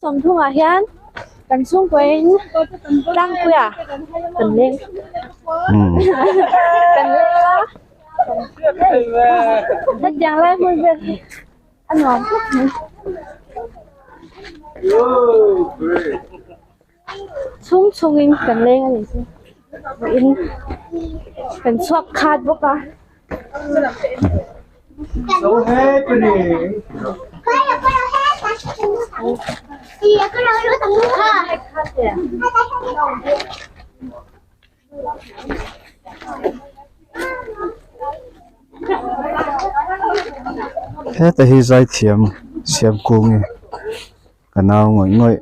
Sawmthunga hian kan chhungkawiin tlangpuia kan leng a, hetiang lai hmun vel hi a nuam hlek mai. Chhung chhungin kan leng a nih chu, in kan chhuak khat bawk a. heta hi zai thiam siam kung nge ka nau ngawih ngawih.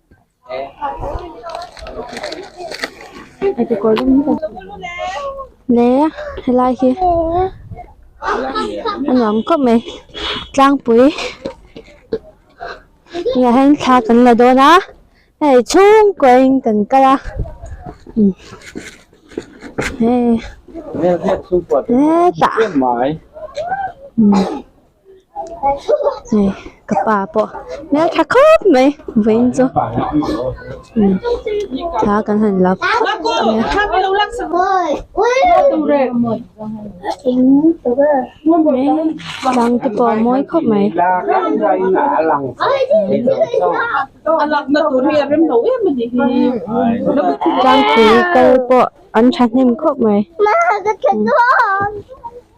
helai hi a nuam khawp mai tlangpui tunah hian thla kan la dawn a hei chhung kuahin kan kal a he hetah. hei ka pa pawh hmel tha khawp mai vawiin chu imm thla kan han la dang te pawh a mawi khawp mai.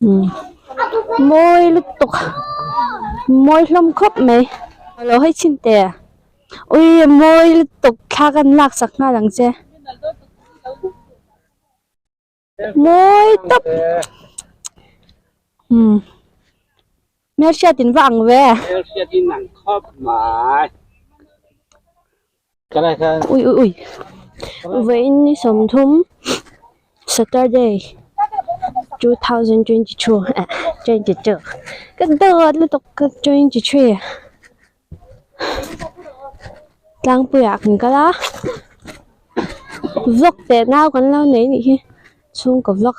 Mawi lutuk a, mawi hlawm khawp mai. Lo hei chin te a. Ui mawi lutuk thla kan lak sak nghal ang che. Mawi tawp. Umm. Hmel hriat in va ang ve. Hmel hriat in ang khawp mai. Ui ui ui vawiin ni sawmthum Saturday two thousand twenty two eh twenty two ka dawt lutuk ka twenty three tlangpuiah kan kal a vlog teh nau kan lo nei anih hi chhungkaw vlog.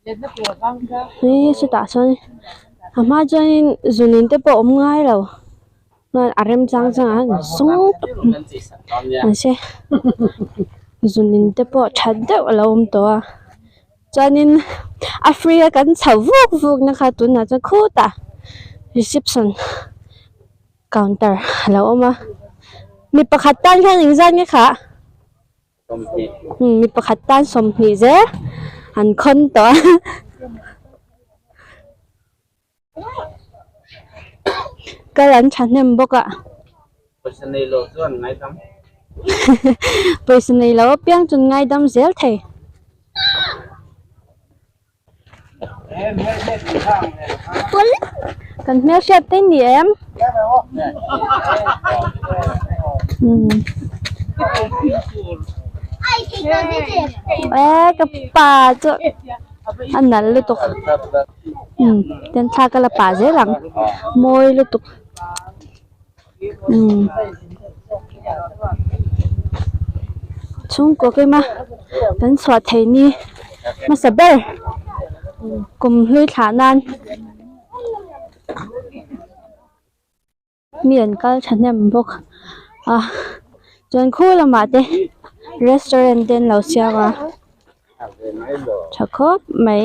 Hi chutah chuan a hma chuanin zunin te pawh awm ngai lo chuan a rem chang chang a ni sung tawh an che zunin te pawh tha deuh alo awm tawh a chuanin a free a kan chho vuk vuk na kha tunah chuan khutah reception counter alo awm a mi pakhat tan hian in zan nge khah. mi pakhat tan sawmhnih zel an khawn tawh a kal an thahnem bawk a pawisa nei lo chuan ngaidam pawisa nei lo apiang chuan ngaidam zel thei. Kan hmel hriat phei ni em? Ka pa chu a nal lutuk. Kan thla ka la pah zel ang. Mawi lutuk. chhungkaw kema kan chhuah theih ni hmasa ber kum hlui thla nan mi an kal thahnem bawk a chuan khaw lamah te restaurant te an lo siam a tha khawp mai.